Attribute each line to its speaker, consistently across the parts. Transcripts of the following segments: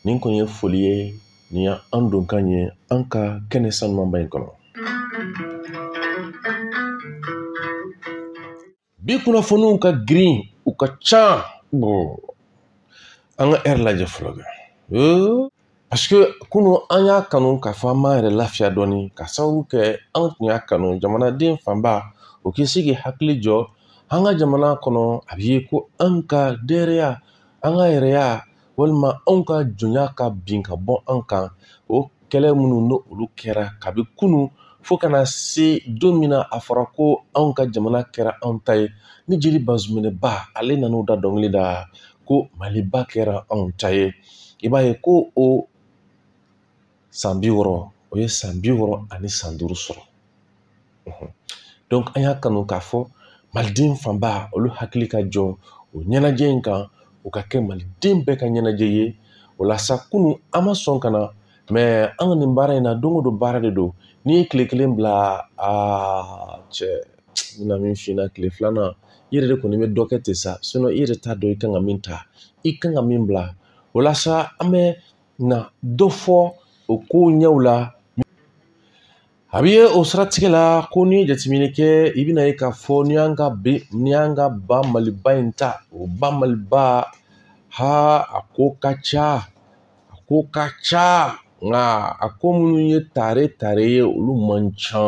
Speaker 1: nin kun ye foli ye nin y' an donkan ye an ka kɛnɛ sanumanba in kɔnɔ bi kunnafoniw ka girin u ka ca an ka ɛri lajɛ fɔlɔ kɛ parce que kunu an y'a kanu k'a fɔ an b'an yɛrɛ lafiya dɔɔni ka sababu kɛ an tun y'a kanu jamanaden fanba o ka se k'i hakili jɔ an ka jamana kɔnɔ a bɛ ye ko an ka dɛrɛya an ka yɛrɛya walima anw ka jɔnya ka bin ka bɔ an kan o kɛlɛ minnu n'olu kɛra kabi kunun fo ka na se don min na a fɔra ko anw ka jamana kɛra anw ta ye ni jeli bazuminɛba ale nan'o da dɔnkili la ko maliba kɛra anw ta ye i b'a ye ko o san bi wɔɔrɔ o ye san bi wɔɔrɔ ani san duuru sɔrɔ donc an y'a kanu k'a fɔ maliden fanba olu hakili ka jɔ o ɲɛnajɛ in kan o ka kɛ maliden bɛɛ ka ɲɛnajɛ ye o la sa kunu an ma sɔn ka na mais an ka nin baara in na don o don baara de don n'i ye tile kelen bila aa cɛ n bɛna min f'i ɲɛna tile filanan i yɛrɛ de kɔni bɛ dɔ kɛ ten sa i yɛrɛ t'a dɔn i kan ka min ta i kan ka min bila o la sa an bɛ na dɔ fɔ o kow ɲɛw la a bɛ ye o siratigɛ la ko n'i ye jateminɛ kɛ i bɛn'a ye k'a fɔ n'i y'an ka be n'i y'an ka ba maliba in ta o ba maliba ha a ko ka ca a ko ka ca nka a ko minnu ye tare tare ye olu man ca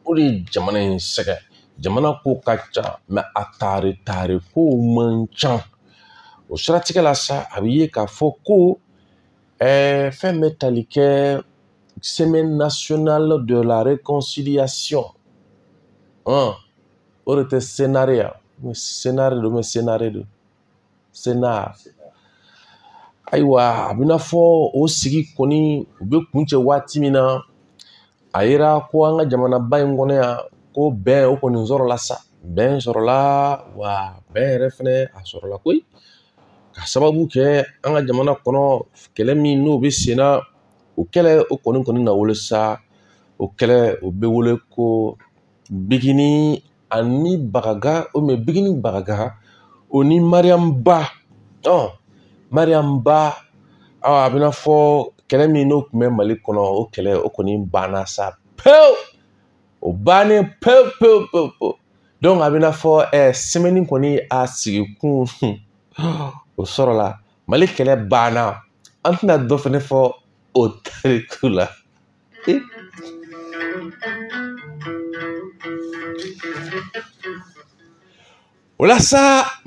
Speaker 1: o de ye jamana in sɛgɛn jamana ko ka ca mais a tare tare kow man ca o siratigɛ la sa a bɛ ye k'a fɔ ko ɛɛ fɛn bɛ tali kɛ semaine nationale de la réconciliation hɔn o de tɛ senare ya senare don mais senare don senar ayiwa a bɛna fɔ o sigi kɔni u bɛ kuncɛ waati min na a yera ko an ka jamanaba in kɔnɔ yan ko bɛn o kɔni sɔrɔla sa bɛn sɔrɔla wa bɛn yɛrɛ fɛnɛ a sɔrɔla koyi ka sababu kɛ an ka jamana kɔnɔ kɛlɛ min n'o bɛ sen na o kɛlɛ o kɔni kɔni na wolo sa o kɛlɛ o bɛ wele ko bigini ani bagaga bigini bagaga o ni mariyamu ba ɔ mariyamu ba ɔ a bɛna fɔ kɛlɛ min n'o tun bɛ mali kɔnɔ o kɛlɛ o kɔni banna sa pewu o bannen pewu pewu pewu pewu donc a bɛna fɔ ɛɛ eh, semaine kɔni a sigikun o sɔrɔla mali kɛlɛ banna an tɛna dɔ fɛnɛ fɔ o tariku la o la sa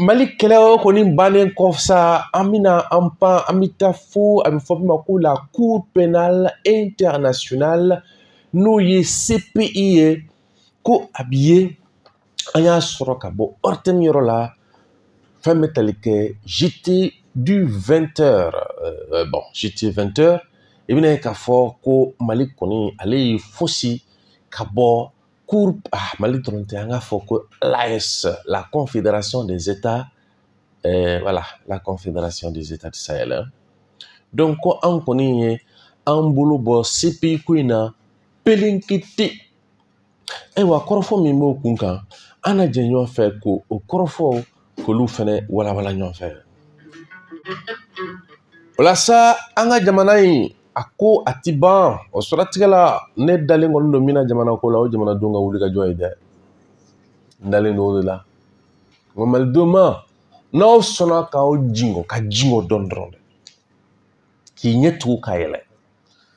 Speaker 1: mali kɛlɛ o kɔni bannen kɔ sa an bɛna an pan an bɛ taa fo a bɛ fɔ min ma ko la cour pénale internationale n'o ye cpi ye ko a b'i ye an y'a sɔrɔ ka bɔ ORTM yɔrɔ la fɛn bɛ tali kɛ JT du 20 heures euh, bon JT 20 heures i bɛna ye k'a fɔ ko mali kɔni ale y'i fosi ka bɔ cour ah, mali dɔrɔn tɛ an k'a fɔ ko l'AES la confédération des états euh, voilà la confédération des états du sahel hein. donc ko an kɔni ye an bolo bɔ cpi ko in na pelenkete ayiwa kɔrɔfɔ min b'o kun kan an na jɛ ɲɔgɔn fɛ ko o kɔrɔfɔ k'olu fɛnɛ walawala ɲɔgɔn fɛ o la sa an ka jamana in a ko a ti ban o siratigɛ la ne dalen kɔni don min na jamana ko la o jamanadenw ka wuli ka jɔ ye dɛ n dalen don o de la nka malidenw ma n'aw sɔnna k'aw jingɔ ka jingɔ dɔɔni dɔrɔn dɛ k'i ɲɛ tugu ka yɛlɛ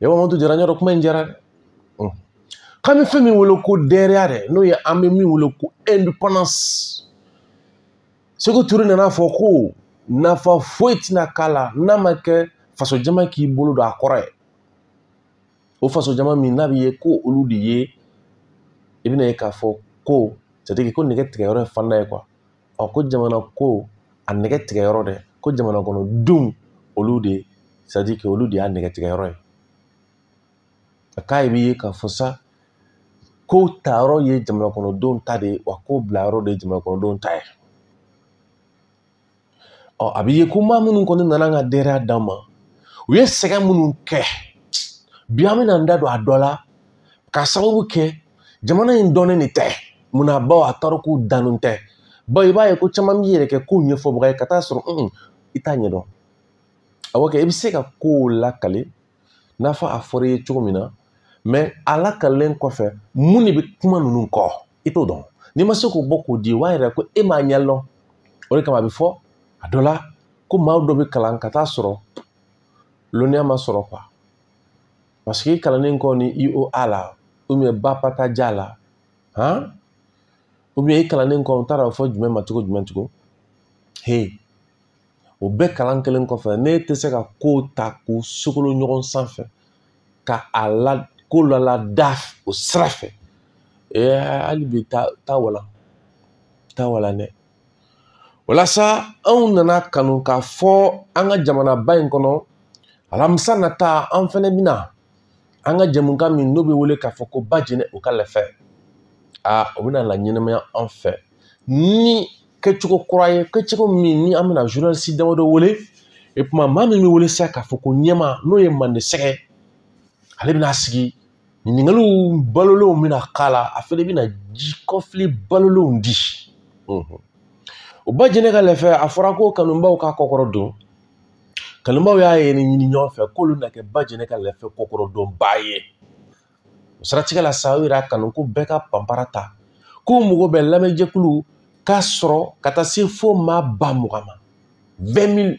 Speaker 1: e b'a to jara ɲɔdɔ kuma in jara dɛ k'an bɛ fɛn min wele ko dɛrɛya dɛ n'o ye an bɛ min wele ko indépendance seku ture nana a fɔ ko nafa foyi tɛna k'a la n'a ma kɛ faso jama k'i bolo don a kɔrɔ ye o faso jama min n'a bɛ ye ko olu de ye i bɛna ye k'a fɔ ko c'est-à-dire ko nɛgɛ tigɛ yɔrɔ ye fanda ye quoi ɔ ko jamana ko a nɛgɛ tigɛ yɔrɔ dɛ ko jamana kɔnɔ denw olu de c'est-à-dire que olu de y'a nɛgɛ tigɛ yɔrɔ ye a k'a b'i ye k'a fɔ sa ko ta yɔrɔ ye jamana kɔnɔ denw ta de ye wa ko bila yɔrɔ de ye jamana kɔnɔ denw ta ye ɔ a bɛ ye ko maa minnu kɔni nana an ka dɛrɛya d'an ma u ye sɛgɛn minnu kɛ bi an bɛna an da don a dɔ la k'a sababu kɛ jamana in dɔnnen de tɛ munna bawo a tariku dɔnnen tɛ bawo i b'a ye ko caman b'i yɛrɛ kɛ kow ɲɛfɔbaga ye ka taa sɔrɔ i t'a ɲɛdɔn awɔ kɛ i bɛ se ka kow lakali n'a fɔ a fɔra i ye cogo min na mais a lakalen kɔfɛ mun de bɛ kuma ninnu kɔ i t'o dɔn n'i ma se k'o bɔ k'o di o b'a yira ko e m'a ɲɛ dɔn o de kama a bɛ fɔ a dɔ la ko maa dɔ bɛ kalan ka taa sɔrɔ lɔnniya ma sɔrɔ quoi parce que i kalannen kɔni i o a la ou bien ba pa ta ja la han ou bien i kalannen kɔ n t'a dɔn fɔ jumɛn ma cogo jumɛn tugun he o bɛɛ kalan kelen kɔfɛ ne tɛ se ka kow ta k'u sogolo ɲɔgɔn sanfɛ ka a la ko lala da o sira fɛ hali bi taa wala taa wala dɛ walasa anw nana kanu k'a fɔ an ka jamanaba in kɔnɔ alamisa nata an fɛnɛ bɛna an ka jɛmukan min n'o bɛ wele k'a fɔ ko bajɛnɛ o ka lɛfɛ aa o bɛna laɲɛnamaya an fɛ ni kɛcogo kura ye kɛcogo min ni an bɛna journaliste damadɔ wele i komi maa min bɛ wele sisan k'a fɔ ko ɲɛma n'o ye mande sɛgɛ ale bɛna sigi ɲininkaliw balolenw bɛna k'a la a fɛnɛ bɛna ji kɔfili balolenw di o bajɛnɛ ka lɛfɛ a fɔra ko kanubaw k'a kɔkɔrɔdon kanubaw y'a ye ni ɲini ɲɔgɔn fɛ k'olu na kɛ bajɛnɛ ka lɛfɛ kɔkɔrɔdonbaa ye o siratigɛ la sa u yɛrɛ y'a kanu ko bɛɛ ka panpara ta k'u mago bɛ lamɛnjɛkulu k'a sɔrɔ ka taa se fo maa ba mugan ma 20 000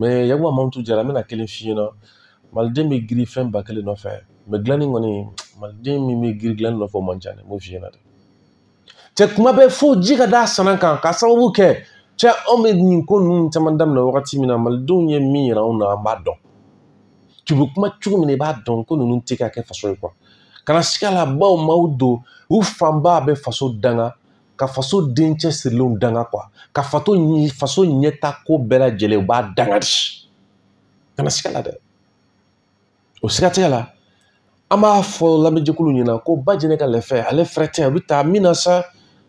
Speaker 1: mɛ yakuba mamutu jara n bɛna kelen f'i ɲɛna maliden bɛ giri fɛn bakɛlen nɔfɛ mɛ dilanni kɔni maliden min bɛ giri dilanni nɔfɛ o man ca dɛ n b'o f'i ɲɛna dɛ cɛ kuma bɛɛ fo ji ka d'a sanan kan k'a sababu kɛ cɛ anw bɛ nin ko ninnu caman daminɛ wagati min na malidenw ye min yira anw na an b'a dɔn tun bɛ kuma cogo min na i b'a dɔn ko ninnu tɛ ka kɛ faso ye kuwa kana siga la bawo maaw don u fanba bɛ faso danga ka faso dencɛ sirilenw danga kuwa ka faso ɲɛtaa ko bɛɛ lajɛlen u b'a danga di kana siga la dɛ o siratigɛ la an b'a fɔ lamɛnjɛkulu ɲɛna ko bajɛnɛ ka lɛfɛ ale fɛrɛtɛ a bɛ ta min na sa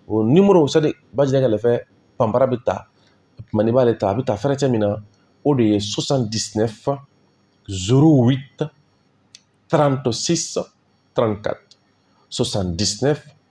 Speaker 1: o nimoro c'est-à-dire bajɛnɛ ka lɛfɛ panpara bɛ ta tuma n'i b'ale ta a bɛ ta fɛrɛtɛ min na o de ye 79 08 36 34 79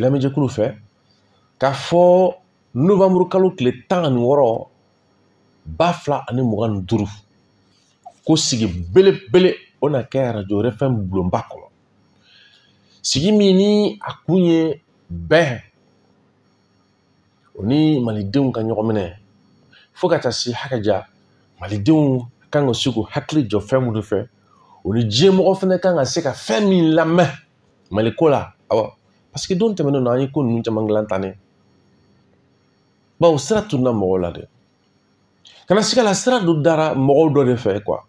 Speaker 1: lamɛnjɛkulu fɛ k'a fɔ novanburu kalo tile tan ani wɔɔrɔ ba fila ani mugan ni duuru ko sigi belebele o na kɛ arajo RFM bulonba kɔnɔ sigi min ni a kun ye bɛn o ni malidenw ka ɲɔgɔn minɛ fo ka taa se hakɛ ja malidenw kan ka se k'u hakili jɔ fɛn minnu fɛ o ni diɲɛ mɔgɔ fana kan ka se ka fɛn min lamɛn mali ko la awɔ paseke don tɛmɛnen na an ye ko ninnu caman dilan tan ne bawo sira tununa mɔgɔw la dɛ kana siga la sira dɔ dara mɔgɔw dɔ de fɛ kuwa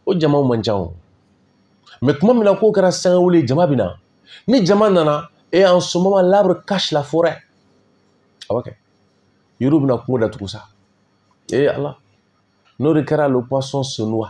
Speaker 1: o jamaw man ca o mɛ tuma min na k'o kɛra sangawuli jama bɛ na ni jama nana et en ce moment l'arbre cache la forêt awɔ kɛ yiriw bɛna kungo datugu sa ee ala n'o de kɛra le poisson se noie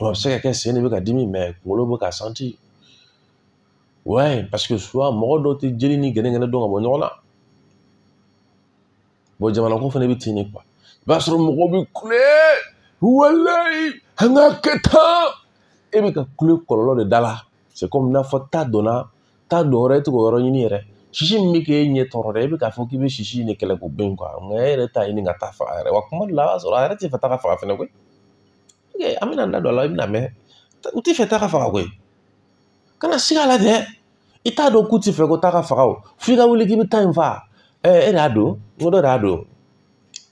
Speaker 1: Wa a bɛ se ka kɛ sen de bɛ ka dimi mais kunkolo bɛ ka sentir ouais parce que souvent mɔgɔ dɔw tɛ jeli ni gɛnɛgɛnɛ dɔn ka bɔ ɲɔgɔn na bon jamana ko fana bɛ ten de quoi i b'a sɔrɔ mɔgɔw bɛ kule walayi an ka kɛ tan e bɛ ka kule kɔlɔlɔ de da la c'est comme n'a fɔ ta donna ta dɔ wɛrɛ e tɛ k'o yɔrɔ ɲini yɛrɛ sisi min bɛ k'e ɲɛ tɔɔrɔ dɛ e bɛ k'a fɔ k'i bɛ sisi in de kɛlɛ k'o bɛn quoi nka e yɛrɛ t'a ɲini ka ta faga yɛrɛ wa kuma dɔ la a b'a sɔrɔ a yɛrɛ tɛ fɛ ta ka faga fɛnɛ koyi an bɛna an da don a la i bɛna mɛn u tɛ fɛ ta ka faga koyi kana siga a la dɛ i t'a dɔn k'u tɛ fɛ ko ta ka faga o f'i ka wuli k'i bɛ ta in faga e de y'a don n ko dɔ de y'a don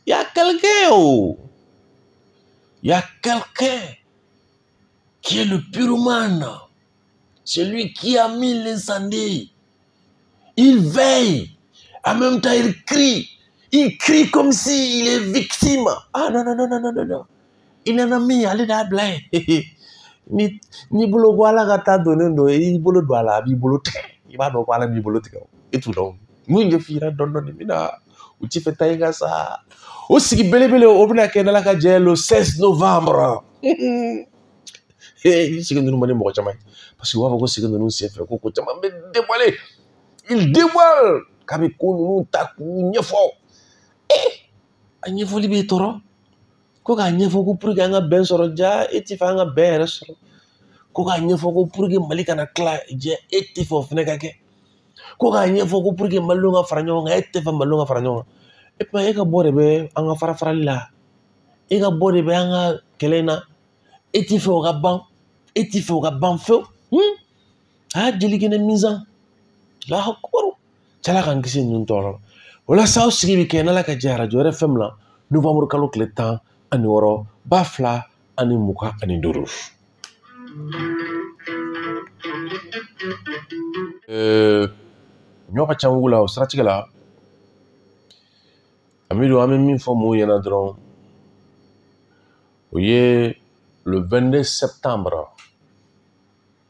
Speaker 1: y a quelqu'un oh y a quelqu'un qui est le pyromane Celui qui a mis l'incendie, il veille. En même temps, il crie. Il crie comme s'il est victime. Ah non, non, non, non, non, non. Il en a mis, allez là, ni ni bolo bɔ ala ka ta donnen don i bolo don a la a b'i bolo tigɛ i b'a dɔn ko ala b'i bolo tigɛ e t'u dɔn n'u ɲɛ fiyira dɔɔni dɔɔni min na u ti fɛ ta in ka sa o sigi belebele o bɛna kɛ n'ala ka jɛ le 16 novembre sigi ninnu man di mɔgɔ caman ye parce que u b'a fɔ ko sigi ninnu senfɛ ko ko caman bɛ dévoiler il dévoile k'a bɛ ko ninnu ta k'u ɲɛfɔ ee a ɲɛfɔli b'i tɔɔrɔ ko k'a ɲɛfɔ ko pour que an ka bɛn sɔrɔ ja e ti fɛ an ka bɛn yɛrɛ sɔrɔ ko k'a ɲɛfɔ ko pour que mali kana tila ja e ti fɛ o fana ka kɛ ko k'a ɲɛfɔ ko pour que malidenw ka fara ɲɔgɔn kan e tɛ fɛ malidenw ka fara ɲɔgɔn kan et comme e ka bɔ de bɛ an ka farafarali la e ka bɔ de bɛ an ka kɛlɛ in na e ti fɛ o ka ban e ti fɛ o ka ban fewu hmm? a y'a deli kɛnɛ minzan lahakubaru cɛla k'an kisi ninnu tɔɔrɔ la o la sa aw sigi bɛ kɛ n'ala ka jɛ arajo RFM na novanburu kalo tile tan ani wɔɔrɔ ba fila ani mugan ani duuru ɲɔ ka ca wugu la o siratigɛ la Amidu an bɛ min fɔ mɔgɔw ɲɛna dɔrɔn o ye le 22 septembre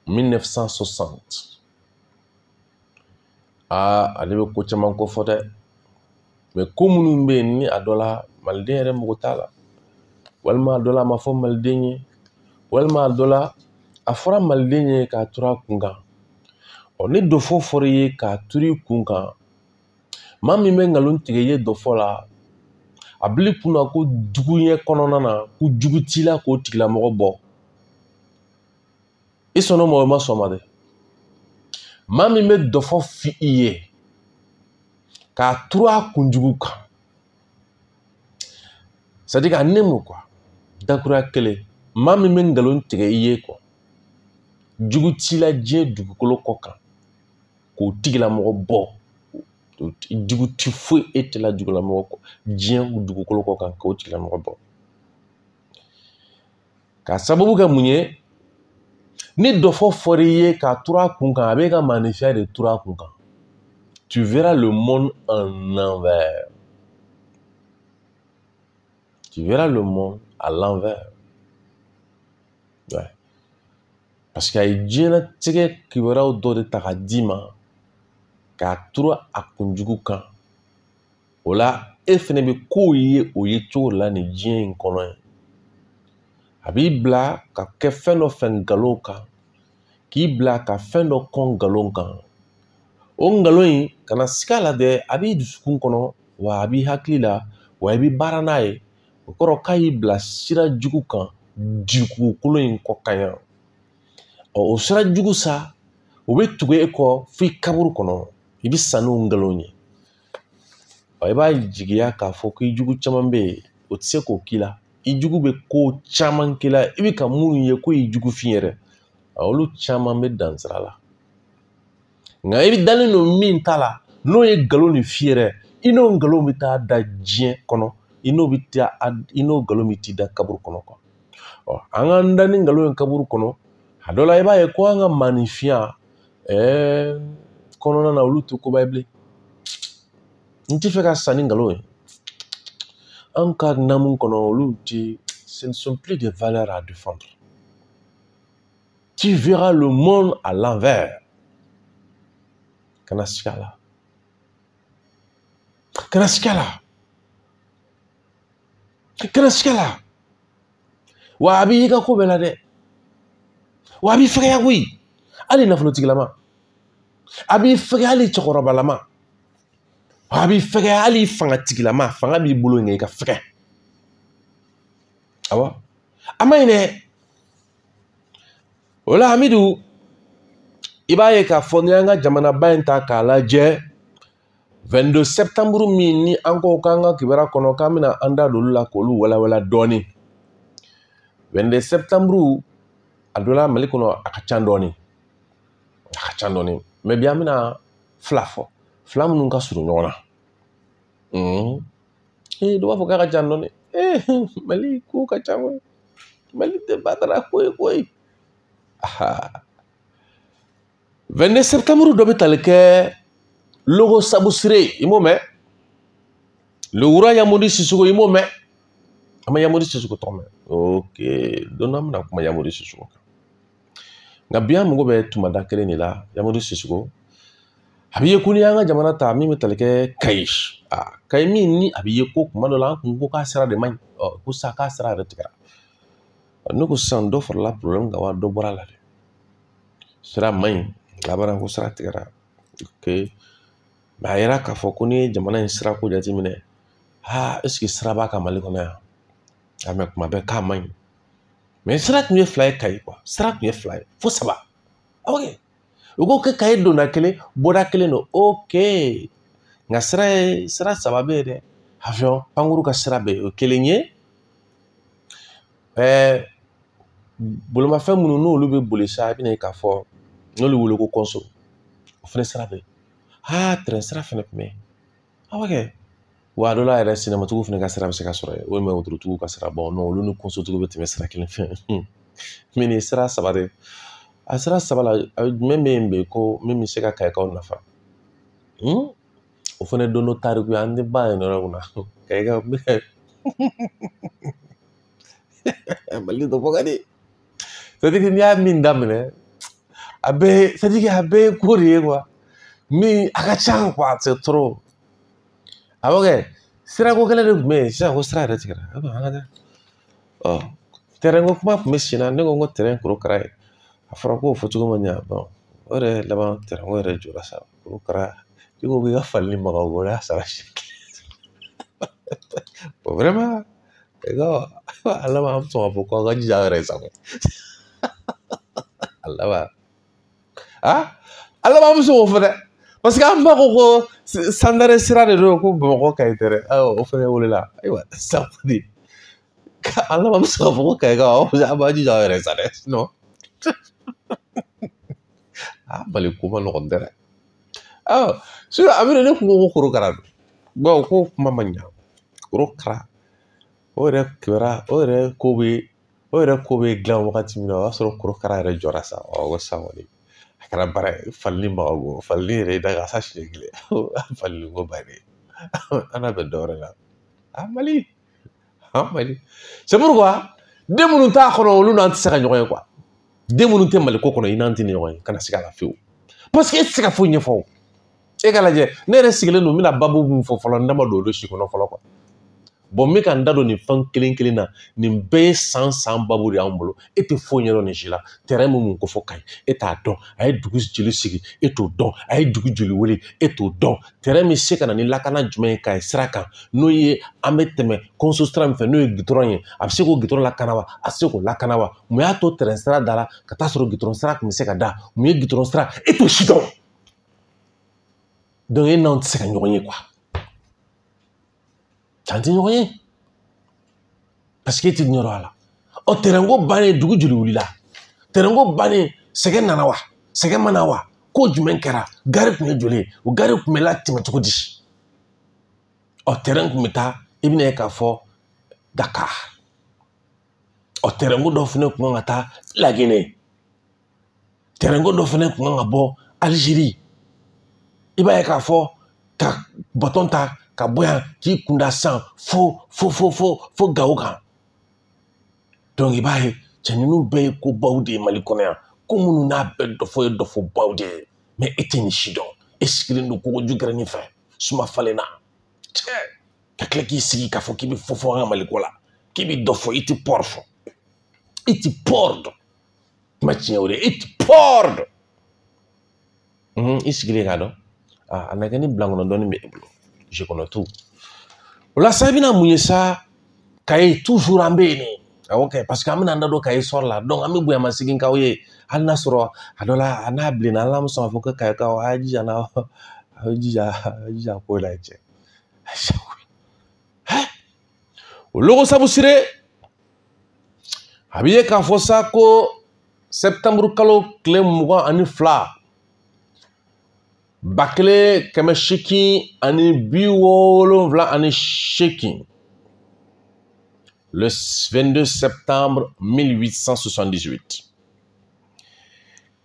Speaker 1: 1960 aa ale bɛ ko caman kofɔ dɛ mais ko minnu bɛ yen ni a dɔ la maliden yɛrɛ mago t'a la walima a dɔ la a ma fɔ maliden ye walima a dɔ la a fɔra maliden ye k'a turu a kun kan ɔ ni dɔfɔ fɔra i ye k'a turu i kun kan maa min bɛ nkalon tigɛ i ye dɔfɔ la a bili kunna ko juguya kɔnɔna na ko jugu t'i la k'o tigilamɔgɔ bɔ i sɔnn'a ma o i ma sɔn a ma dɛ maa min bɛ dɔfɔ f'i ye k'a turu a kunjugu kan c'est à dire ka ne mun quoi dakuruya kelen maa min bɛ nkalon tigɛ i ye quoi jugu t'i la diɲɛ dugukolo kɔ kan k'o tigilamɔgɔ bɔ jugu ti foyi e tɛ la jugulamɔgɔ kɔ diɲɛ dugukolo kɔ kan k'o tigilamɔgɔ bɔ k'a sababu kɛ mun ye ni dɔfɔ fɔr'i ye k'a turu a kun kan a b'i ka maanifinya de turu a kun kan tu verras le monde en envers tu verras le monde à l'envers parce que a ye diɲɛlatigɛ kibaruyaw dɔ de ta ka d'i ma k'a turu a kunjugu kan o la e fɛnɛ bɛ kow ye o yecogo la nin diɲɛ in kɔnɔ ye a b'i bila ka kɛ fɛn dɔ fɛ nkalon kan k'i bila ka fɛn dɔ kɔn nkalon kan o nkalon in kana siga a la dɛ a b'i dusukun kɔnɔ wa a b'i hakili la wa i bɛ baara n'a ye o kɔrɔ k'a y'i bila sira jugu kan dugukolo in kɔ kan yan ɔ o sira jugu sa o bɛ tugu e kɔ f'i kaburu kɔnɔ i bɛ sa n'o nkalon ye ɔ i b'a jigiya k'a fɔ k'i jugu caman bɛ yen o tɛ se k'o k'i la i jugu bɛ ko caman k'i la i bɛ ka minnu ye k'o y'i jugu fin yɛrɛ olu caman bɛ dan sira la nka i dalen don min ta la n'o ye nkalon ni fin yɛrɛ i n'o nkalon bɛ taa da diɲɛ kɔnɔ i n'o bɛ taa i n'o nkalon bɛ t'i da kaburu kɔnɔ ɔ an k'an da ni nkalon ye kaburu kɔnɔ a dɔ la i b'a ye ko an ka maanifinya ɛɛ kɔnɔna na olu tɛ koba ye bilen n tɛ fɛ ka sa ni nkalon ye an ka namu kɔnɔ olu tɛ ce ne sont plus des valeurs à défendre tu verras le monde à l'envers kana siga a la kana siga a la kana siga a la wa a b'i ka ko bɛɛ la dɛ wa a b'i fɛgɛya koyi hali nafolotigilama a b'i fɛgɛya hali cɛkɔrɔbalama wa a b'i fɛgɛya hali fangatigilama fanga b'i bolo nka i ka fɛgɛ awɔ a man ɲi dɛ o la hamidu i b'a ye k'a fɔ n'i y'an ka jamanaba in ta k'a lajɛ 22 septembre min ni an ko k'an ka kibaruya kɔnɔ k'an bɛna an da don olu la k'olu walawala dɔɔnin 22 septembre a dɔ la mali kɔnɔ a ka ca dɔɔnin a ka ca dɔɔnin mais bi an bɛna fila fɔ fila minnu ka surun ɲɔgɔn na ee dɔ b'a fɔ k'a ka ca dɔɔni ee mali ko ka ca koyi mali tɛ batara ko ye koyi aha 22 septembre dɔ bɛ tali kɛ logo sabusire i m'o mɛn le roi yamodi sisoko i m'o mɛn an ma yamodi sisoko tɔgɔ mɛn ok don dɔ an bɛna kuma yamodi sisoko kan nka bi an mago bɛ tumada kelen de la yamodi sisoko a bɛ ye ko n'i y'an ka jamana ta min bɛ tali kɛ kayi a kayi min ni a bɛ ye ko kuma dɔ la an kun ko k'a sira de man ɲi ko sa k'a sira yɛrɛ tigɛra ne ko sisan dɔ farala porobilɛmu kan wa dɔ bɔra a la dɛ sira man ɲi laban ko sira tigɛra ok mais a yira k'a fɔ ko n'i ye jamana in sirako jateminɛ aa est-ce que sira b'an ka mali kɔnɔ yan a mais kuma bɛɛ k'a man ɲi mais sira tun ye fila ye kayi quoi sira tun ye fila ye fo saba ok u ko kɛ kayi donna kelen bɔda kelen don ok nka sira ye sira saba bɛ yen dɛ avion pankuru ka sira bɛ yen o kelen ye ɛɛ bolimafɛn minnu n'olu bɛ boli sa i bɛna ye k'a fɔ n'olu wele ko kɔnso o fana sira bɛ yen aa tɛrɛn sira fana tun bɛ yen aa ok wa a dɔ la yɛrɛ sennamatigiw fana ka sira bɛ se ka sɔrɔ yen walima wotorotigi ka sira bon olu ni kɔnsotigiw bɛ tɛmɛ sira kelen fɛ mais nin sira saba de a sira saba la jumɛn bɛ yen bi ko min bɛ se ka kayikaw nafa o fana don dɔ tariku ye an tɛ ban yen yɔrɔ min na kayikaw mali dɔ bɔ ka di c'est-à-dire que n'i y'a min daminɛ a bɛɛ c'est-à-dire que a bɛɛ ye ko de ye quoi mais a ka ca quoi c'est trop awɔ kɛ sirako kelen de tun bɛ yen sisan ko sira yɛrɛ tigɛra a bɛ an ka taa ɔ tɛrɛnko kuma tun bɛ sen na ne ko n ko tɛrɛn korokara ye a fɔra k'o fɔ cogo ma ɲa bon o yɛrɛ laban tɛrɛnko yɛrɛ jɔra sa korokara i ko k'i ka falili maga o y'a sara siɲɛ kelen vraiment E ka a laban an bɛ sɔn k'a fɔ k'aw ka jija aw yɛrɛ ye sa ko a laban a laban an bɛ sɔn k'o fɔ dɛ parce que an ba ko ko sandare sira de don ko bamakɔ kayi tɛ dɛ o fɛnɛ wulila ayiwa ça veut dire a laban an bɛ sɔn k'a fɔ ko kayikaw an b'a jija aw yɛrɛ sa dɛ a mali ko man nɔgɔn ten dɛ a bɛ ne kun ko korokara don bawo ko kuma ma ɲa korokara o yɛrɛ kɛra o yɛrɛ ko bɛ o yɛrɛ ko bɛ dilan wagati min na o y'a sɔrɔ korokara yɛrɛ jɔra sa o san kɔni a kɛra baara ye falili ma bɔ falili yɛrɛ da ka sa siɲɛ kelen fali ko bannen an na bɛn dɔ wɛrɛ la a mali an mali c'est pourquoi den minnu t'a kɔnɔ olu n'an tɛ se ka ɲɔgɔn ye quoi den minnu tɛ mali ko kɔnɔ i n'an tɛna ɲɔgɔn ye kana siga a la fiyewu parce que e tɛ se ka foyi ɲɛfɔ o e ka lajɛ ne yɛrɛ sigilen don n bɛna babu min fɔ fɔlɔ n da ma don olu si kɔnɔ fɔlɔ quoi bon n bɛ ka n da don nin fɛn kelen kelen na nin bɛɛ ye san san babu de y'an bolo e tɛ foyi ɲɛdɔn nin si la tɛrɛn bɛ mun kofɔ kayi e t'a dɔn a ye dugu joli sigi e t'o dɔn a ye dugu joli wele e t'o dɔn tɛrɛn bɛ se ka na ni lakana jumɛn ye kayi sira kan n'o ye an bɛ tɛmɛ kɔnso sira min fɛ n'o ye gitɔrɔn ye a bɛ se k'o gitɔrɔn lakana wa a tɛ se k'o lakana wa mun y'a to tɛrɛn sira da la ka taa sɔrɔ gitɔrɔn sira tun bɛ se ka da mun ye gitɔrɔn sira e t'o si dɔn donc e n'anw tɛ se ka ɲɔgɔn ye quoi cɛ an tɛ ɲɔgɔn ye parce que e tɛ ɲɛdɔn a la ɔ tɛrɛnko bannen dugu joli wulila tɛrɛnko bannen sɛgɛn nana wa sɛgɛn ma na wa ko jumɛn kɛra gari tun ye joli ye o gari tun bɛ latɛmɛ cogo di ɔ tɛrɛn tun bɛ taa i bɛn'a ye k'a fɔ dakar ɔ tɛrɛnko dɔ fana tun kan ka taa laginɛ tɛrɛnko dɔ fana kun kan ka bɔ aliziri i b'a ye k'a fɔ ka batɔn ta ka bɔ yan k'i kunda san fo fo fo fo fo gawo kan donc i b'a ye cɛ ninnu bɛɛ ye kobaw de ye mali kɔnɔ yan ko minnu n'a bɛɛ dɔfɔ ye dɔfɔbaw de ye mais e tɛ nin si dɔn e sigilen don kogoju gɛrɛnin fɛ suma falen na cɛ ka tila k'i sigi k'a fɔ k'i bɛ fɔ fɔ an ka mali ko la k'i bɛ dɔ fɔ i tɛ pɔri fɔ i tɛ pɔri dɔn kuma tiɲɛ o de ye i tɛ pɔri dɔn i sigilen k'a dɔn a na kɛ ni bilankɔnɔ dɔɔni bɛ e bolo je connais tout o la sa i bɛna mun ye sa kayi toujours an bɛ yen de ok parce que an bɛna an da don kayi sɔrɔ la donc an bɛ bonya masegin k'aw ye hali n'a sɔrɔ a dɔ la a n'a bilenna hali n'an bɛ sɔn k'a fɔ ko kayikaw a y'a jija n'a a y'a jija a y'a jija ko la cɛ o logo sabusire a bɛ ye k'a fɔ sa ko sɛtanburu kalo tile mugan ani fila ba kelen kɛmɛ seegin ani bi wolonwula ani seegin le 22 septembre 1878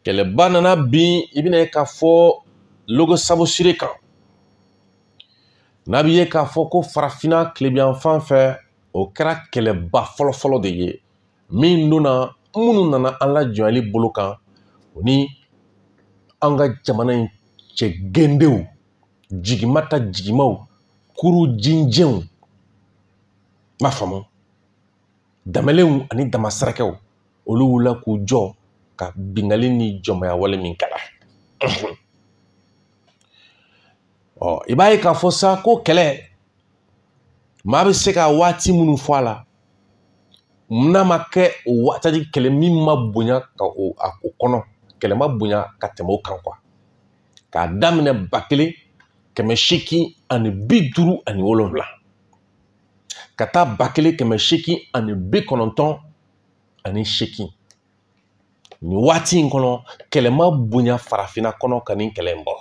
Speaker 1: kɛlɛba nana bin i bɛna ye k'a fɔ logo sabu sire kan n'a bɛ ye k'a fɔ ko farafinna tilebiyanfan fɛ o kɛra kɛlɛba fɔlɔfɔlɔ de ye min donna minnu nana an lajɔnyali bolo kan o ni an ka jamana in cɛ gendenw jigima ta jigimaw kuru jinjɛw n b'a faamu Damalenw ani damasarakɛw olu wulila k'u jɔ ka bingali ni jɔnmaya wale min kɛla ɔ i b'a ye k'a fɔ sa ko kɛlɛ maa bɛ se ka waati minnu fɔ a la n'a ma kɛ o waati kɛlɛ min ma bonya ka o kɔnɔ kɛlɛ ma bonya ka tɛmɛ o kan quoi k'a daminɛ ba kelen kɛmɛ seegin ani bi duuru ani wolonwula ka taa ba kelen kɛmɛ seegin ani bi kɔnɔntɔn ani seegin nin waati in kɔnɔ kɛlɛ ma bonya farafinna kɔnɔ ka nin kɛlɛ in bɔ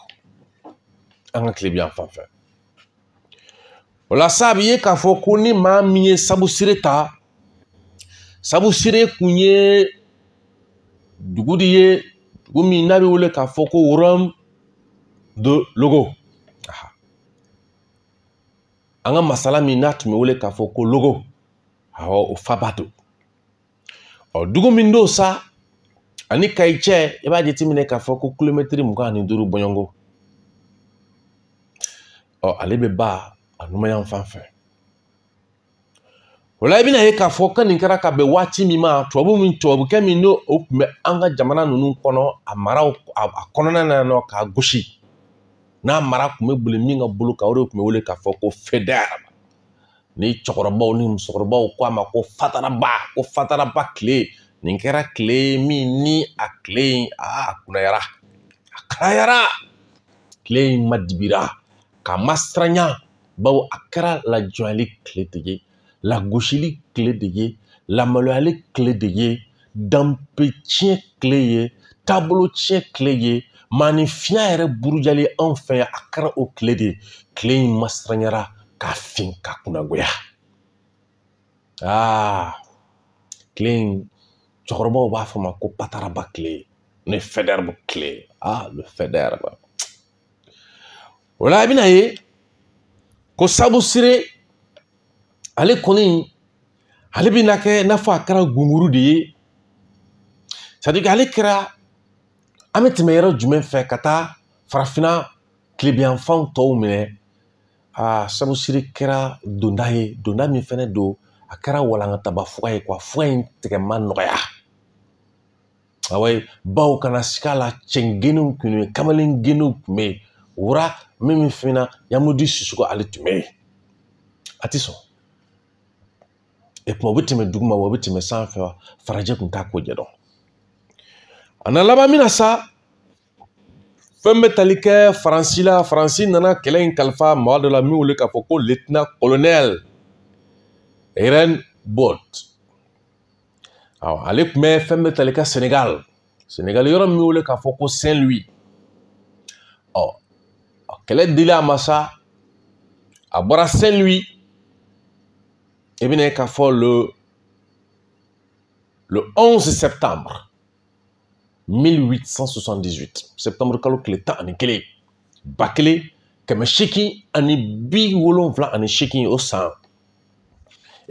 Speaker 1: an ka tilebiyanfan fɛ o la sa a bɛ ye k'a fɔ ko ni maa min ye sabu sire ta sabu sire kun ye dugu de ye dugu min n'a bɛ wele k'a fɔ ko royaume de logo an ka masala min n'a tun bɛ wele k'a fɔ ko logo awɔ o faba don ɔ dugu min don sa a ni kayi cɛ i b'a jateminɛ k'a fɔ ko kilomɛtiri mugan ani duuru bɔɲɔngo ɔ ale bɛ ba a numanyan fan fɛ o la i bɛna ye k'a fɔ ka nin kɛra ka bɛn waati min ma tubabu min tubabukɛ min n'o tun bɛ an ka jamana ninnu kɔnɔ a maraw a kɔnɔna na nɔ k'a gosi n'a mara tun bɛ boli min ka bolo kan o de tun bɛ wele k'a fɔ ko Faidherbe ni cɛkɔrɔbaw ni musokɔrɔbaw ko a ma ko fataraba ko fataraba tile nin kɛra tile min ni a tile in a kunayara a kalayara tile in madibira k'a masiranya bawo a kɛra lajɔnyali tile de ye lagosili tile de ye lamaloyali tile de ye danbe tiɲɛ tile ye taabolo tiɲɛ tile ye maaninfinya yɛrɛ burujali anw fɛ yan a kɛra o tile de ye tile in masiranyara k'a fin ka kunnagoya aa tile in cɛkɔrɔbaw b'a fɔ ma ko pataraba tile ne Faidherbe tile ale Faidherbe o la i bɛna ye ko sabu sire ale kɔni ale bɛna kɛ i n'a fɔ a kɛra gunguru de ye c'est-à-dire que ale kɛra an bɛ tɛmɛ yɔrɔ jumɛn fɛ ka taa farafinna tilebiyanfanw tɔw minɛ a sabu sire kɛra donda ye donda min fɛnɛ don a kɛra walankataba fuga ye quoi fuga in tigɛ ma nɔgɔya awa ye baw kana sika la cɛngeninw kun bɛ yen kamalengeninw kun bɛ yen roi n bɛ min f'i ɲɛna ɲamudi susuko ale tun bɛ yen a tɛ sɔn e kuma o bɛ tɛmɛ duguma wa o bɛ tɛmɛ sanfɛ wa farajɛ tun t'a ko ɲɛ dɔn a na laban min na sa fɛn bɛ tali kɛ faransi la faransi nana kɛlɛ in kalifa maa dɔ la min wele k'a fɔ ko litina kolonɛli Reybaud aw ale tun bɛ fɛn bɛ tali kɛ senegal senegal yɔrɔ min wele k'a fɔ ko saint louis ɔ kɛlɛ dilen a ma sa a bɔra saint louis i bɛna ye k'a fɔ le le 11 septembre 1878 septembre kalo tile tan ani kelen ba kelen kɛmɛ seegin ani bi wolonwula ani seegin o san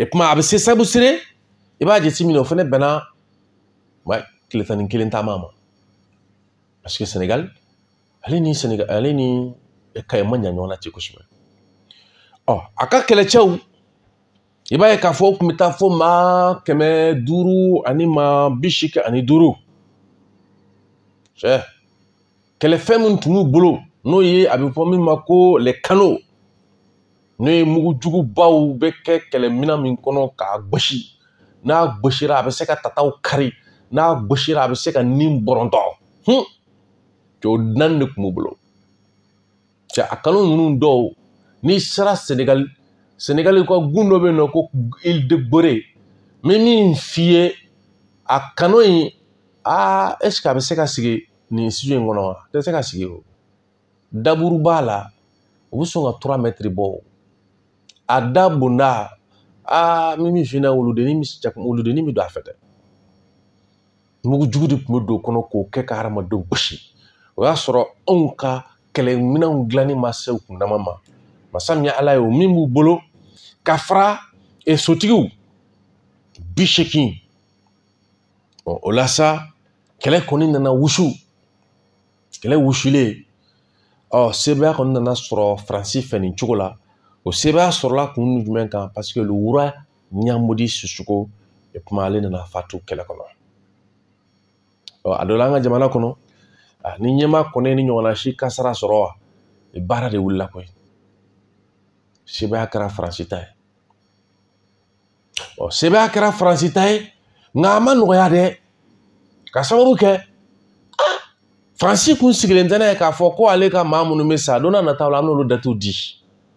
Speaker 1: e kuma a bɛ se sabusire i b'a jate minɛ o fana bɛnna wa tile tan ni kelen taama ma parce que senegal ale ni senegal ale ni kayi man jan ɲɔgɔn na ten kosɛbɛ ɔ a ka kɛlɛcɛw i b'a ye k'a fɔ u tun bɛ taa fo maa kɛmɛ duuru ani maa bi seegin ani duuru cɛ kɛlɛfɛn min tun b'u bolo n'o ye a bɛ fɔ min ma ko les canons n'o ye mugu jugubaw bɛ kɛ kɛlɛminɛn min kɔnɔ k'a gosi n'a gosira a bɛ se ka tataw kari n'a gosira a bɛ se ka nin bɔrɔntɔ hun cɛ o naani de tun b'u bolo cɛ a canon ninnu dɔw n'i sera senegali senegali ka gun dɔ bɛ yen nɔ ko ile de gorée n bɛ min f'i ye a canon in aa ɛseke a bɛ se ka sigi nin studio in kɔnɔ wa a tɛ se ka sigi o daburu b'a la u bɛ sɔn ka trois mètres bɔ o a da bonda aa n bɛ min f'i ɲɛna wuludennin bɛ don a fɛ dɛ mugu jugu de tun bɛ don o kɔnɔ k'o kɛ ka hadamadenw gosi o y'a sɔrɔ anw ka kɛlɛminɛnw dilanni ma se u kun dama ma masa min ye ala ye o min b'u bolo ka fara e sotigiw bi seegin o la sa kɛlɛ kɔni nana wusu kɛlɛ wusulen ɔ sebaaya kɔni nana sɔrɔ faransi fɛ nin cogo la o sebaaya sɔrɔla kun jumɛn kan paseke le roi ɲamudi susuko e kuma ale nana fatu kɛlɛ kɔnɔ ɔ a dɔ la an ka jamana kɔnɔ ni ɲɛmaa kɔni ni ɲɔgɔnna si kasara sɔrɔ wa baara de wulila koyi sebaaya kɛra faransi ta ye ɔ sebaaya kɛra faransi ta ye nka a ma nɔgɔya dɛ ka sababu kɛ ah, faransi kun sigilen tɛ n'a ye k'a fɔ ko ale ka maa minnu bɛ sa don nataw la an bɛn'olu datiw di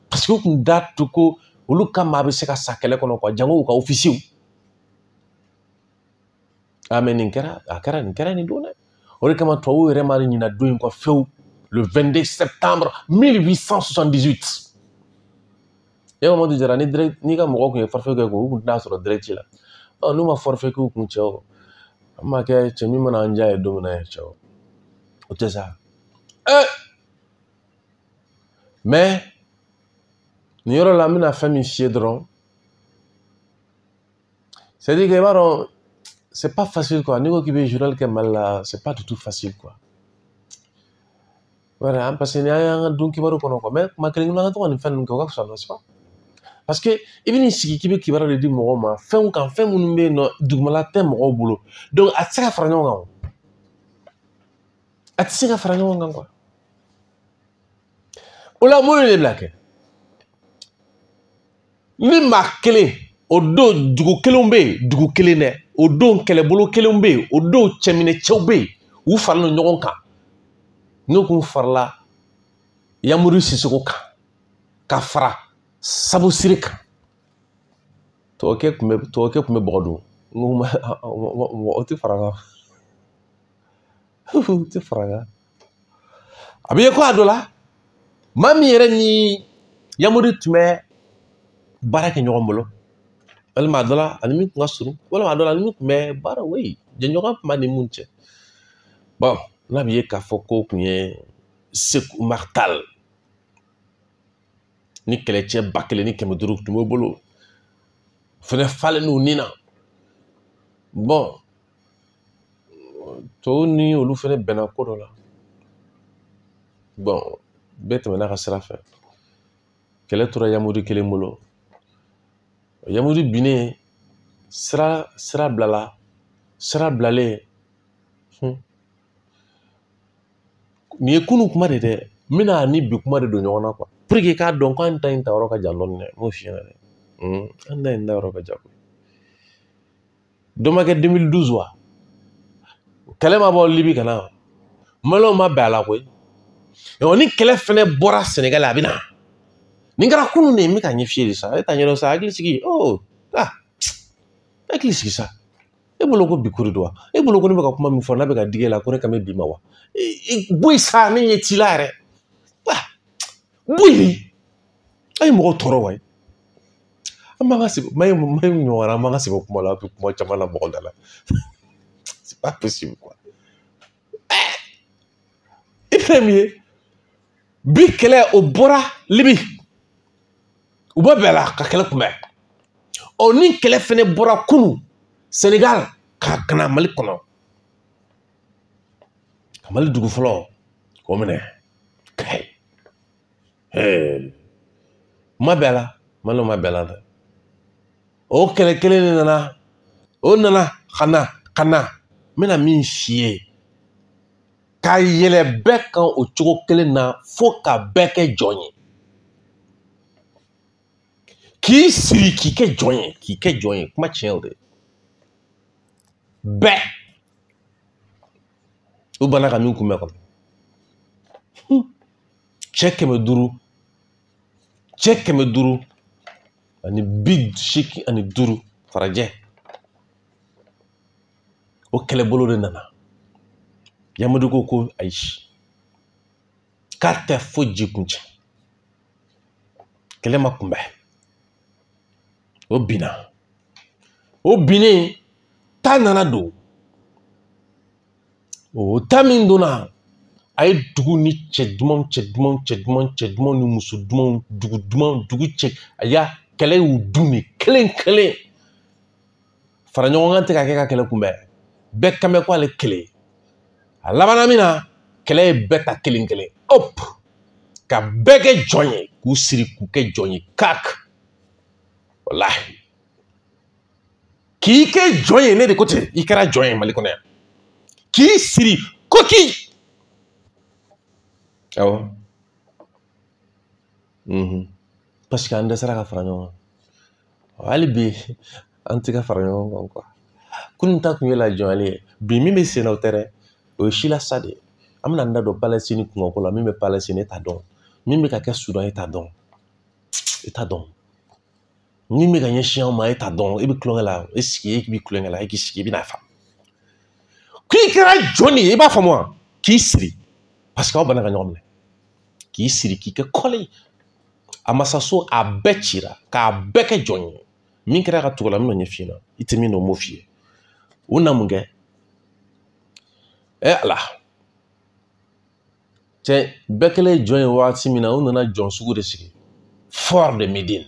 Speaker 1: parce que u kun da tu ko olu ka maa bɛ se ka sa kɛlɛ kɔnɔ quoi jango u ka ofisiyew a mais nin kɛra a kɛra nin kɛra nin don dɛ o de kama tubabuw yɛrɛ ma ɲina don in kɔ fewu le 22 septembre 1878 e mamadu jara ni direct n'i ka mɔgɔ tun ye forfait kɛ ko u tun tɛna sɔrɔ direct la ɔ n'u ma forfait k'u kun cɛ o an ma kɛ cɛ min mana an diya ye don min na yɛrɛ cɛ o o tɛ sa ee mais nin yɔrɔ la n bɛna fɛn min f'i ye dɔrɔn c'est à dire que i b'a dɔn c'est pas facile quoi n'i ko k'i bɛ journal kɛ mali la c'est pas du tout facile quoi voilà parce que ni an y'an ka don kibaru kɔnɔ quoi mais kuma kelen kelenna an ka to ka nin fɛn ninnu kɛ o ka fisa n'est-ce pas parce que i bɛ n'i sigi k'i bɛ kibaru de di mɔgɔw ma fɛnw kan fɛn minnu bɛ yen nɔ dugumala tɛ mɔgɔw bolo donc a tɛ se ka fara ɲɔgɔn kan o a tɛ se ka fara ɲɔgɔn kan quoi o la mun ye ne bila kɛ ni maa kelen o don dugu kelenw bɛ yen dugu kelen dɛ o don kɛlɛbolo kelenw bɛ yen o don cɛminɛ cɛw bɛ yen u farala ɲɔgɔn kan n'u kun farala yamudi sisoko kan ka fara sabusire kan tɔgɔkɛ tun bɛ tɔgɔkɛ tun bɛ bɔgɔ dun n ko mɔgɔ tɛ fara kan tɛ fara a bɛ ye ko a dɔ la maa min yɛrɛ ni yamudi tun bɛ baara kɛ ɲɔgɔn bolo walima a dɔ la ani min tun ka surun walima a dɔ la ani min tun bɛ baara wei jɛɲɔgɔnya tun b'a ni mun cɛ bon n'a bɛ ye k'a fɔ ko kun ye seku umaru tal ni kɛlɛcɛ ba kelen ni kɛmɛ duuru tun b'o bolo fɛnɛ falen n'u ni na bon tɔw ni olu fɛnɛ bɛnna ko dɔ la bon bɛɛ tɛmɛna ka sira fɛ kɛlɛ tora yamudi kelen bolo yamudi binnen sira sira bilala sira bilalen nin ye kunun kuma de dɛ n bɛn'a ni bi kuma de don ɲɔgɔn na quoi pour que k'a dɔn k'an ta in ta yɔrɔ ka jan dɔɔni dɛ n b'o f'i ɲɛna dɛ an ta in ta yɔrɔ ka jan dɔ ma kɛ 2012 wa kɛlɛ ma bɔ libi ka na wa maliyɛnw ma bɛn a la koyi ɔ ni kɛlɛ fɛnɛ bɔra sɛnɛgali a bɛ na nin kɛra kunun de ye n bɛ k'a ɲɛf'i ye de sa e t'a ɲɛdɔn sa hakili sigi o ah hakili sigi sa e bolo ko bi ko de don wa e bolo ko ne bɛ ka kuma min fɔ n'a bɛ ka digi e la ko ne kan bɛ bi ma wa bɔ yen sa ne ɲɛ t'i la yɛrɛ Buli a ye mɔgɔ tɔɔrɔ wa an b'an ka sigi mayi mayi ɲɔgɔn an b'an ka sɛbɛ kuma la a bɛ kuma caman la mɔgɔ da la c'est pas possible quoi i fɛn min ye bi kɛlɛ o bɔra libi u bɛ bɛɛ la ka kɛlɛ kunbɛn ɔ ni kɛlɛ fɛnɛ bɔra kunun senegal ka ka na mali kɔnɔ ka mali dugu fɔlɔ k'o minɛ kayi ma bɛɛ la malo ma bɛɛ la dɛ o kɛlɛ kelen de nana o nana ka na ka na n bɛna min f'i ye ka yɛlɛ bɛɛ kan o cogo kelen na fo ka bɛɛ kɛ jɔn ye k'i siri k'i kɛ jɔn ye k'i kɛ jɔn ye kuma tiɲɛ o de bɛɛ u banna ka min kunbɛn kɔnɔ cɛ kɛmɛ duuru cɛ kɛmɛ duuru ani bi seegin ani duuru farajɛ o kɛlɛbolo de nana yamadu ko ko ayi k'a tɛ foyi ji kun cɛ kɛlɛ ma kunbɛn o binna o binnen ta nana don o ta min donna a ye dugu ni cɛ dumanw cɛ dumanw cɛ dumanw cɛ dumanw ni muso dumanw dugu dumanw dugu cɛ a y'a kɛlɛ y'u dun de kelen kelen fara ɲɔgɔn kan tɛ ka kɛ ka kɛlɛ kunbɛn bɛɛ kan bɛ ko ale kelen a labanna min na kɛlɛ ye bɛɛ ta kelen kelen hop ka bɛɛ kɛ jɔn ye k'u siri k'u kɛ jɔn ye kak walahi k'i kɛ jɔn ye ne de ko ten i kɛra jɔn ye mali kɔnɔ yan k'i siri koki awɔ paseke an dɛsɛra ka fara ɲɔgɔn kan hali bi an tɛ ka fara ɲɔgɔn kan kunun ta tun ye lajɔnyali ye bi min bɛ sen na o tɛ dɛ o ye silasa de ye an bɛna an da don palɛsini kunkanko la min bɛ palɛsini e t'a dɔn min bɛ ka kɛ sudan e t'a dɔn e t'a dɔn min bɛ ka ɲɛsin anw ma e t'a dɔn e bɛ tulonkɛ la e sigi e bɛ tulonkɛ la e k'i sigi i bɛna faamu k'i kɛra jɔn de ye i b'a faamu wa k'i siri paseke aw banna ka ɲɔgɔn minɛ k'i siri k'i kɛ kɔli a masaso a bɛɛ cira k'a bɛɛ kɛ jɔn ye min kɛra ka tugu o la n bɛn'o ɲɛf'i ɲɛna i tɛ min dɔn n b'o f'i ye u na mun kɛ ɛ ala cɛ bɛɛ kɛlen jɔn ye wagati min na u nana jɔn sugu de sigi fort de médine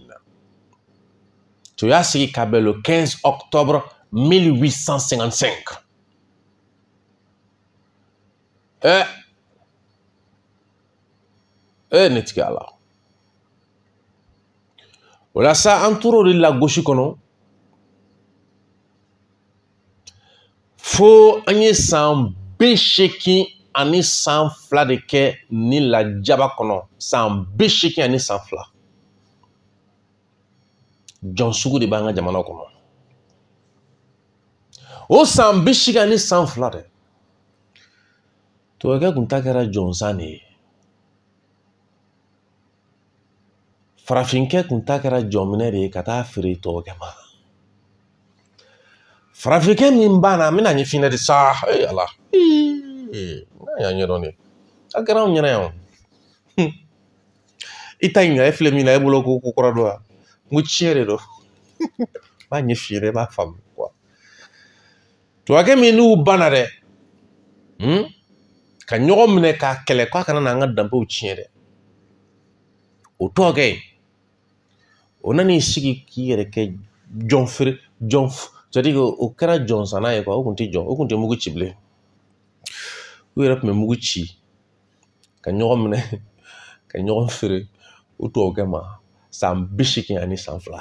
Speaker 1: don u y'a sigi ka bɛn le 15 octobre 1855 eh eh ne tigi ala o la sa an tor'o de lagosi kɔnɔ fo an ye san bi seegin ani san fila de kɛ ni lajaba kɔnɔ san bi seegin ani san fila jɔn sugu de b'an ka jamana kɔnɔ o san bi seegin ani san fila dɛ tubabukɛ kun ta kɛra jɔnsan de ye farafinkɛ kun ta kɛra jɔnminɛ de ye ka taa feere tubabukɛ ma farafinkɛ min banna n bɛn'a ɲɛ f'i ye de sa ee ala n'a y'a ɲɛdɔn de a kɛra anw ɲɛna yan i t'a ɲininka e filɛ min na e bolo ko ko kura don wa n ko tiɲɛ de don n b'a ɲɛ f'i ye dɛ i b'a faamu tubabukɛ min n'u banna dɛ hmm? ka ɲɔgɔn minɛ k'a kɛlɛ k'a kana na an ka danbew tiɲɛ dɛ o tubabukɛ in o nana i sigi k'i yɛrɛ kɛ jɔn feere c'est-à-dire que o kɛra jɔnsanna ye o kun tɛ jɔn o kun tɛ mugu ci bilen u yɛrɛ tun bɛ mugu ci ka ɲɔgɔn minɛ ka ɲɔgɔn feere o tubabukɛ ma san bi seegin ani san fila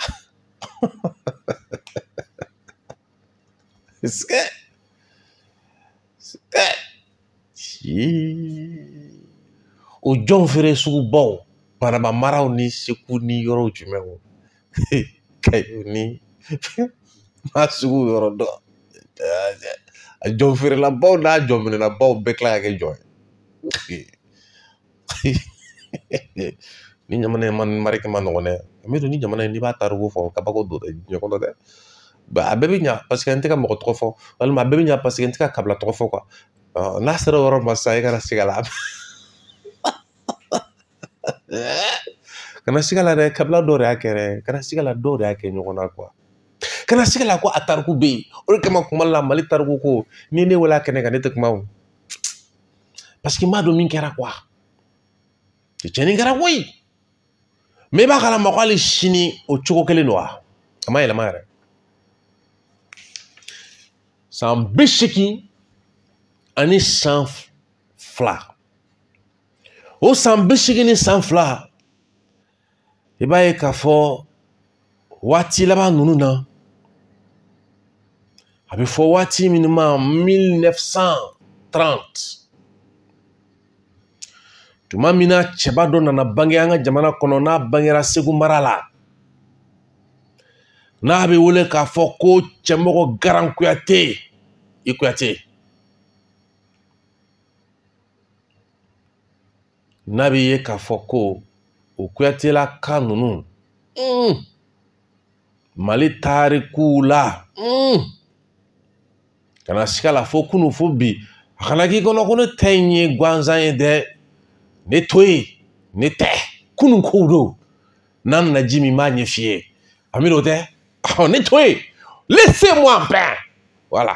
Speaker 1: o jɔn feere sugubaw banamba maraw ni segu ni yɔrɔw jumɛn wo kayo ni ma sugu yɔrɔ dɔn a jɔn feerelabaw n'a jɔnminɛnabaw bɛɛ tila ka kɛ jɔn ye ni jamana in mara kɛ man nɔgɔn dɛ n b'a dɔn ni jamana in n'i b'a tariku fɔ kabako don dɛ diɲɛ kɔnɔ dɛ a bɛɛ bɛ ɲa parce que n tɛ ka mɔgɔ tɔgɔ fɔ walima a bɛɛ bɛ ɲa parce que n tɛ ka kabila tɔgɔ fɔ n'a sera o yɔrɔ ma sisan i kana siga la kana siga la dɛ kabila dɔw de y'a kɛ dɛ kana siga la dɔw de y'a kɛ ɲɔgɔn na kana siga la ko a tariku bɛ yen o de kama kuma la mali tariku ko ni ne wele a kɛnɛ kan ne tɛ kuma o parce que n b'a dɔn min kɛra quoi cɛnni kɛra koyi mais i b'a kalama ko hali sini o cogo kelen don wa a ma yɛlɛma yɛrɛ san bi seegin ani san fila o san bi seegin ni san fila i b'a ye k'a fɔ waati laban ninnu na a bɛ fɔ waati minnu ma mille neuf cent trente tuma min na cɛba dɔ nana bange an ka jamana kɔnɔ n'a bangera segu mara la n'a bɛ wele k'a fɔ ko cɛmɔgɔ garan kuyate i kuyate n'a bɛ ye k'a fɔ ko o kuyatelaka ninnu mm, mali tarikuw la mm, kana siga la fo kunu fo bi a kana k'i kɔnɔ ko ne ta in ye gansan ye dɛ ne to yen ne tɛ kunu kow dɔn n'a nana jimi b'a ɲɛf'i ye ami n'o tɛ ne to yen laissez moi en paix voilà